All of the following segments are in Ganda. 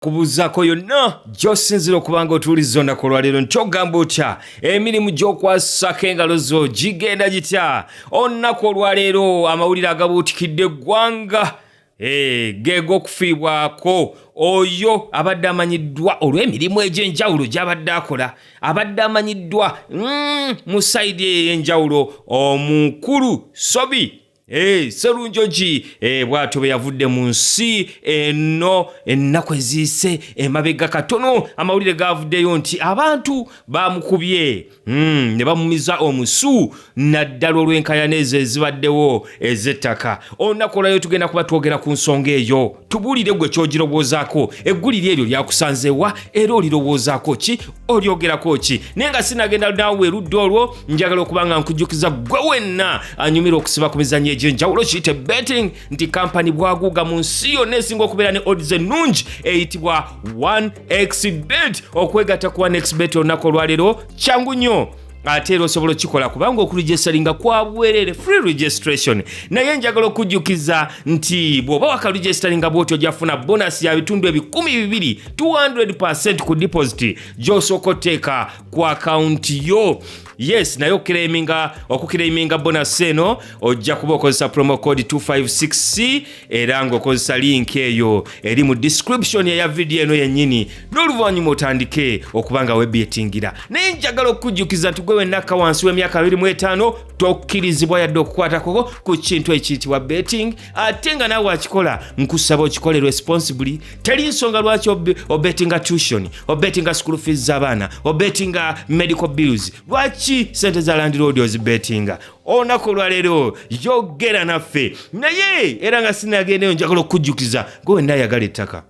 kubuzaako yonna gyosinzira okuba nga otuwuliza olunaku olwaleero nti ogamba otya emirimu gyokwasako engalo zo gigenda gitya olunaku olwaleero amawulire agabuutikidde eggwanga eh, gegokufiibwako oyo abadde amanyiddwa olw'emirimu egy'enjawulo gy'abadde akola abadde amanyiddwa mm, mu sayidi eyenjawulo omukulu sobi Hey, eh, serunjoji hey, eh, bwatyo bwe yavudde mu nsi eno ennaku eziise emabega katono amawulire gaavuddeyo nti abantu bamukubye mm, ne bamumiza omusu naddala olw'enkayana ezo ezibaddewo ez'ettaka olunaku olwayo tugenda kuba twogera ku nsonga eyo tubuulire gwe kyogirowoozaako eggulire eryo lyakusanzeewa era olirowoozaako ki olyogerako ki naye nga sinagenda naawe erudda olwo njagala okuba nga nkujjukiza gwe wenna anyumira okusiba ku mizanyo egy'enjawulo kiyite betting nti kampani bwaguuga mu nsi yonna esinga okubeera ne odds ennungi eyitibwa 1xbet okwegatta ku 1xbet olunaku olwaleero kyangu nnyo ate era osobola okikola kubanga okuregistaringa kwa bwerere free registration naye njagala okujjukiza nti bw'oba wakaregistaringa bwoti ojja funa bonasi ya bitundu ebikumi bibiri 200 ku deposit gy'osooka oteeka ku akawunti yo yes naye okukiraiminga okukiraiminga bonasi eno ojja kuba okozesa promo code 256c era ng'okozesa linki eyo eri mu description eya vidiyo eno yennyini n'oluvannyuma otandike okuba nga webyetingira naye njagala okukujjukiza nti gwe wennakka wansi w'emyaka 25 tokkirizibwa yadde okukwatako ku kintu ekiyitibwa betting ate nga naawe akikola nkusaba okikole responsibly teri nsonga lwaki obetinga tution obetinga school fees z'abaana obetinga medical bills lwaki sente za landiroodi ozibetinga olunaku olwaleero yogera naffe naye era nga sinagendeyo njagala okukujjukiza gwe wenda ayagala ettaka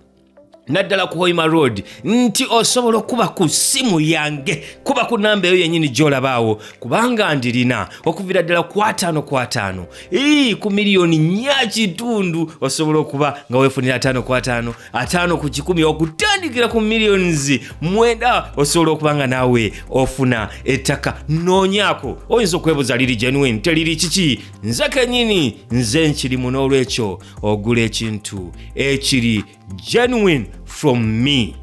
naddala ku hoima road nti osobola okuba ku simu yange kuba ku namba eyo yennyini gyolabaawo kubanga ndirina okuvira ddala kwataano kwataano ii ku miliyoni nya kitundu osobola okuba nga wefunira ataano kwataano ataano ku kikumi okutandikira ku millions mwenda osobola okuba nga naawe ofuna ettaka noonyako oyinza okwebuza liri genuine teliri kiki nze kenyini nze nkirimu n'olwekyo ogula ekintu ekiri genuine from me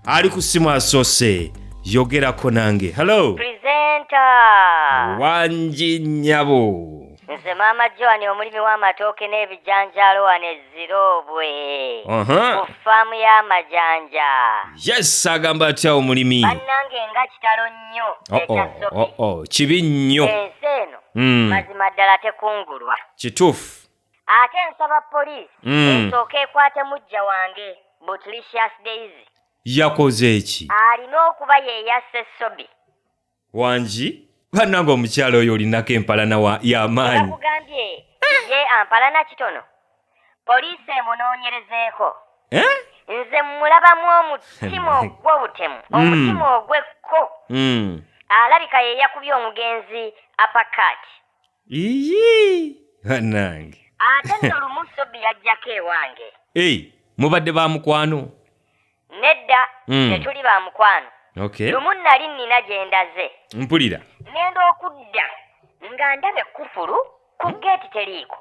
ali ku simu asoose yogerako nange hallo presenter wangi nyabo Nze maama Joan omulimi w'amatooke n'ebijanjaalo wano e Ziroobwe Aha. ku ffaamu y'amajanja. yes agamba atya omulimi Bannange nga kitalo nnyo Oh, ekya oh, Sophie. oh, oh, kibi nnyo Ensi eno Mm. mazima ddala tekungulwa. kituufu Ate nsaba poliisi Mm. esooke ekwate mujja wange Butlicious Daisy yakoze eki alina okuba ye yasse Sobi wangi bannanga omukyalo oyo olinako empalana yamaanyi kugambye ye ampalana kitono poliisi emunoonyerezeeko eh? nze mulabamu omutima oh ogw'obutemu hmm. omutima ogw'ekko hmm. alabika yeyakubye omugenzi apakati iyi banange ate nno lumu sobi yajjako ewange ei mubadde ba mukwano nedda Mm. tetuli ba mukwano okay lumu nali nnina gye ndaze mpulira ngenda okudda nga ndaba ekkufulu ku geeti teriiko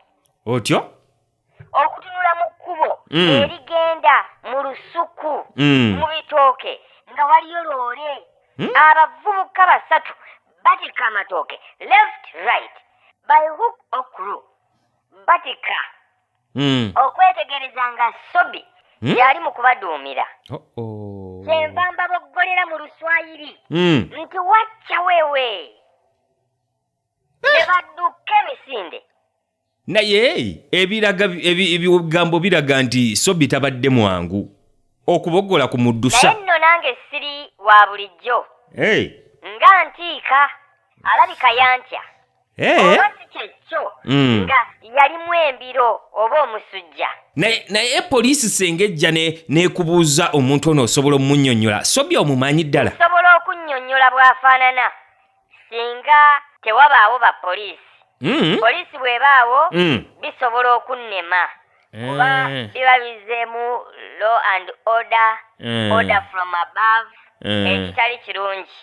otyo okutunula mu kkubo mm. erigenda mu lusuku mm. mu bitooke nga waliyo loole mm. abavubuka basatu batika amatooke left right by hook or crook batika mm. okwetegereza nga sobi mm. yali mu kubaduumira oh -oh. kyenva mbaboggolera mu luswayiri mm. nti wacca wewe ne badduka emisinde naye ebigambo biraga nti sobi tabadde mwangu okubogola ku muddusa naye nno nange siri wa bulijjo nga ntiika alabika yantya oba si kyekyo mm. nga yalimu embiro oba omusujja naye poliisi senga ejja nekubuuza omuntu ono osobola omunyonyola sobi omumanyi ddala osobola okunyonyola bw'afaanana singa tewabaawo ba poliisi Mm. poliisi bw'ebaawo Mm. bisobola okunnema kuba Eh, biba bizeemu law and order eh, order from above eh, ekitali kirungi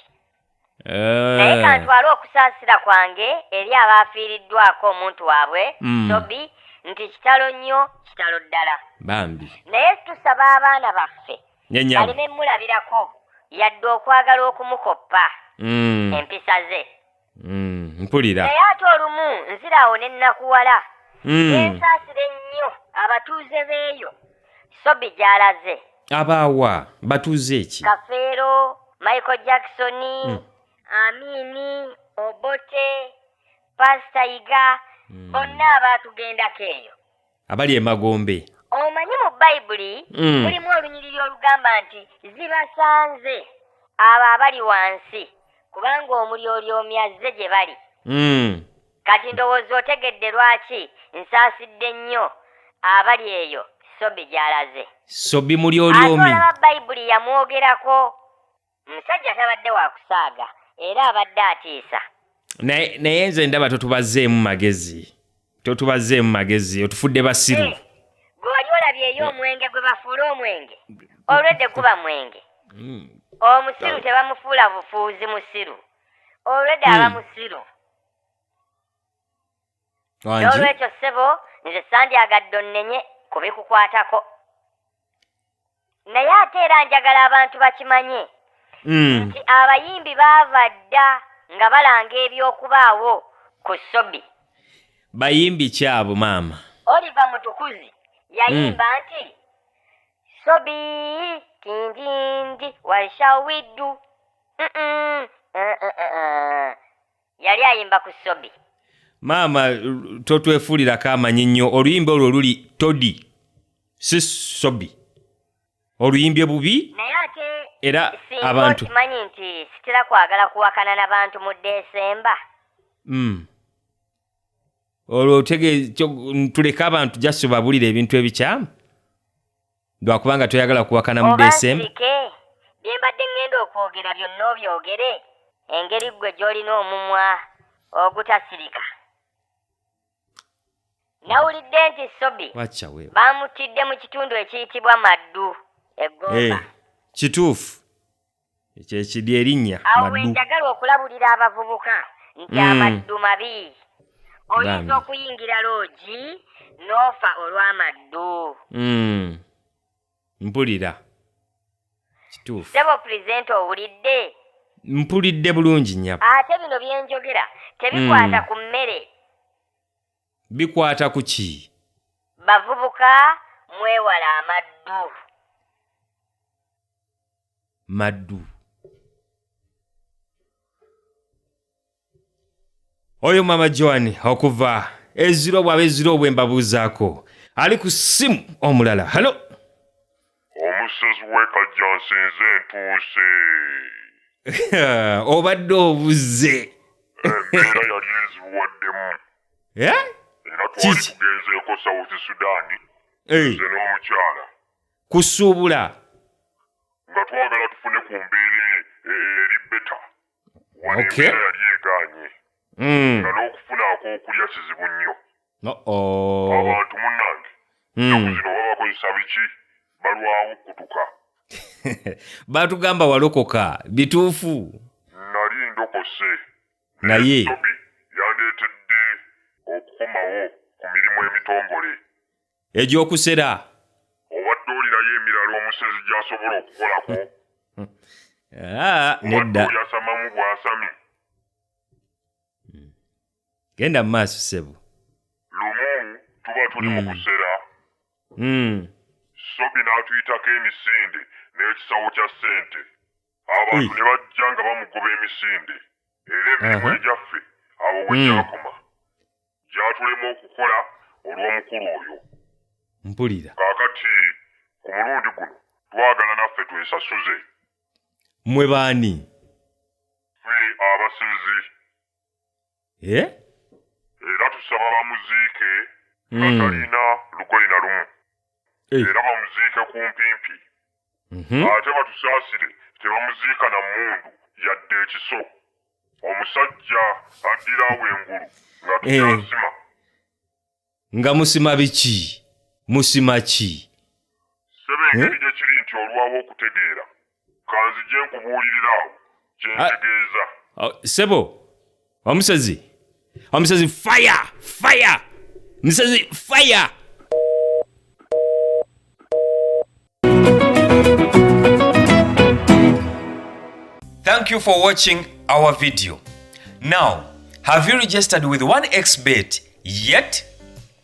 naye eh. kantwala okusaasira kwange eri abaafiiriddwako omuntu waabwe Mm. sobi nti kitalo nnyo kitalo ddala bambi naye tusaba abaana baffe nyenyabo alina emmulabirako yadde okwagala okumukoppa mm. empisa ze mm. mpulira naye ate olumu nziraawo ne nnakuwala mm. ensaasira ennyo abatuuze b'eyo sobi gy'alaze abaawa batuuze eki kafeero michael jackson mm. amiini obote pasita yiga mm. bonna abaatugendako eyo abali emagombe omanyi mu bayibuli Mm. mulimu olunyiriri olugamba nti zibasanze abo abali wansi kubanga omulyolyomi azze gye bali Mm. kati ndowooza otegedde lwaki nsaasidde nnyo abali eyo sobi gy'alaze sobi muli ate olyomi olaba bayibuli yamwogerako musajja tabadde wa kusaaga era abadde atiisa naye naye nze ndaba totubazzeemu magezi totubazzeemu magezi otufudde basiru Eh, gwe wali olabyeyo omwenge gwe bafuula omwenge olwedde guba mwenge Mm. omusiru tebamufuula bufuuzi musiru olwedde aba musiru n'olwekyo ssebo nze sandyagadde onnenye ku bikukwatako naye ate era njagala abantu bakimanye hmm. nti abayimbi baava dda nga balanga eby'okubaawo ku sobi bayimbi kyabo maama oliva mutukuzi yayimba hmm. nti sobi tinjinji washawidu yali ayimba ku sobi maama totwefuulirako amanyi nnyo oluyimba olwo luli todi si sobi oluyimbye bubi naye ate era abantu kimanyi nti sitera kwagala kuwakana na bantu mu desemba mm. olwo tuleke abantu jasi babulira ebintu ebikyamu lwakubanga toyagala kuwakana mu dsm byembadde ŋŋenda okwogera byonna obyogere engeri ggwe gy'olina omumwa ogutasirika nawulidde nti sobi baamuttidde mu kitundu ekiyitibwa maddu eggomba eh, kituufu ekyo ekidi erinnya awo wenjagala okulabulira abavubuka nti hmm. amaddu mabi oyinza okuyingira loogi n'ofa olw'amaddu hmm. mpulira kituufu sebo pulezidenti owulidde mpulidde bulungi nyabo ate bino byenjogera tebikwata hmm. ku mmere bikwata ku ki bavubuka mwewala amaddu maddu oyo mama joan okuva eziro bwaba eziro bwe mbabuuzaako ali ku simu omulala halo omusezi wekajja nsinze ntuuse obadde obuze embeera yali ezibuwaddemu Eh? era twali Kiki? tugenzeeko south sudan Eh, nze n'omukyala kusuubula nga twagala tufune ku mbeera e- e- eri beta wano Okay. embeera yali egaanye Mm. nga n'okufuna ak'okulya kizibu nnyo Uh-oh. abantu munnange Mm. zino oba bakozesa biki balwawo okutuka batugamba walokoka bituufu nali ndokose naye Tobi yandeetedde okukomawo ku mirimu emitongole egy'okusera obadde olinayo emirala omusezi gy'asobola okukolako ah, nedda oyasamamu bwasami genda mu maaso ssebo lumu tuba tuli mu hmm. kusera hmm. sobi n'atuyitako emisinde n'ekisawo kya ssente abantu ne bajja nga bamugoba emisinde era emirimu egyaffe awo we gyakoma hmm. gyatulema okukola olw'omukulu oyo mpulira kaakati ku mulundi guno twagala naffe twesasuze mmwe baani ffe abasezi e eh? era tusaba bamuziike nga hmm. talina lugoye na lumu era bamuziike ku mpimpi mhm. ate batusaasire tebamuziika na mmundu yadde ekiso omusajja addira awo engulu nga eh. tukyasima nga musima biki musima ki sebe engeri eh? gye kiri nti olwawo okutegeera kanzije nkubuulirira awo kyentegeeza Oh, sebo omusezi omusezi fire fire musezi fire Thank you for watching our video. Now, have you registered with 1xbet yet?